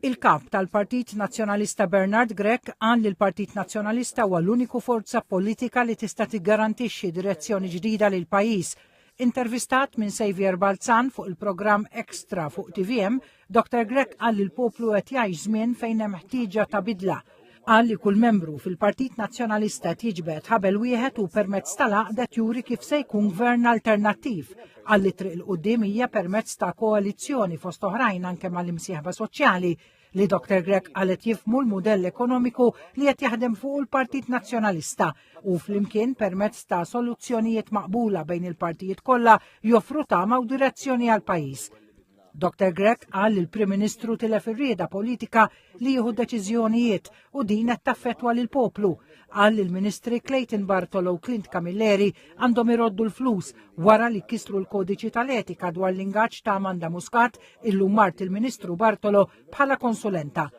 Il-Kap tal-Partit Nazzjonalista Bernard Grech qal li l-Partit Nazzjonalista huwa l-uniku forza politika li tista' tiggarantixxi direzzjoni ġdida lill-pajjiż. Intervistat minn Saviour Balzan fuq il-programm Extra fuq tvm, Dr Grech qal li l-poplu qed jgħix żmien fejn hemm ħtieġa ta' bidla. Qal li kull membru fil-Partit Nazzjonalista qed jiġbed ħabel wieħed u permezz tal-għaqdet juri kif se jkun gvern alternattiv. Qal li triq il-qudiem hija permezz ta' koalizzjoni fost oħrajn anke mal-imsieħba soċjali li Dr. Grech qalet jifmu l-mudell ekonomiku li qed jaħdem fuq il-Partit Nazzjonalista u flimkien permezz ta' soluzzjonijiet maqbula bejn il-partijiet kollha joffru tama u direzzjoni għal pajjiż. Dr. Grech qal li l-Prim Ministru tilef ir-rieda politika li jieħu deċiżjonijiet u din qed taffettwa lil poplu. Qal li l-Ministri Clayton Bartolo u Clint Camilleri għandhom iroddu l-flus wara li kisru l-kodiċi tal-etika dwar l-ingaġġ ta' Amanda Muscat illum mart il-Ministru Bartolo bħala konsulenta.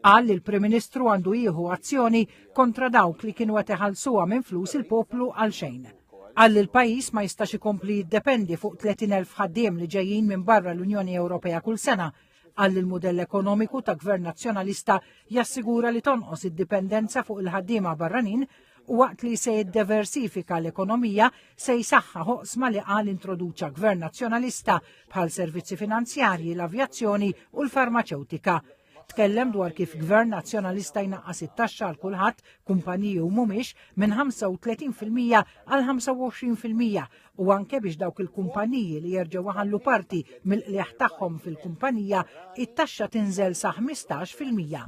Qal li l-Prim Ministru għandu jieħu azzjoni kontra dawk li kienu qed iħallsuha minn flus il-poplu għal xejn. Qal li l-pajjiż ma jistax ikompli jiddependi fuq 30,000 ħaddiem li ġejjin minn barra l-Unjoni Ewropea kull sena. Qal li l-mudell ekonomiku ta' gvern nazzjonalista jassigura li tonqos id-dipendenza fuq il-ħaddiema barranin u waqt li se jiddeversifika l-ekonomija se jsaħħa ħoqsma li qal introduċa gvern nazzjonalista bħal servizzi finanzjarji, l-avjazzjoni u l-farmaċewtika. Tkellem dwar kif gvern nazzjonalista jnaqqas it-taxxa għal kulħadd, kumpaniji u mhumiex, minn 35% għal 25% u anke biex dawk il-kumpaniji li jerġgħu waħallu parti mill-qliegħ tagħhom fil-kumpanija, it-taxxa tinżel sa 15%.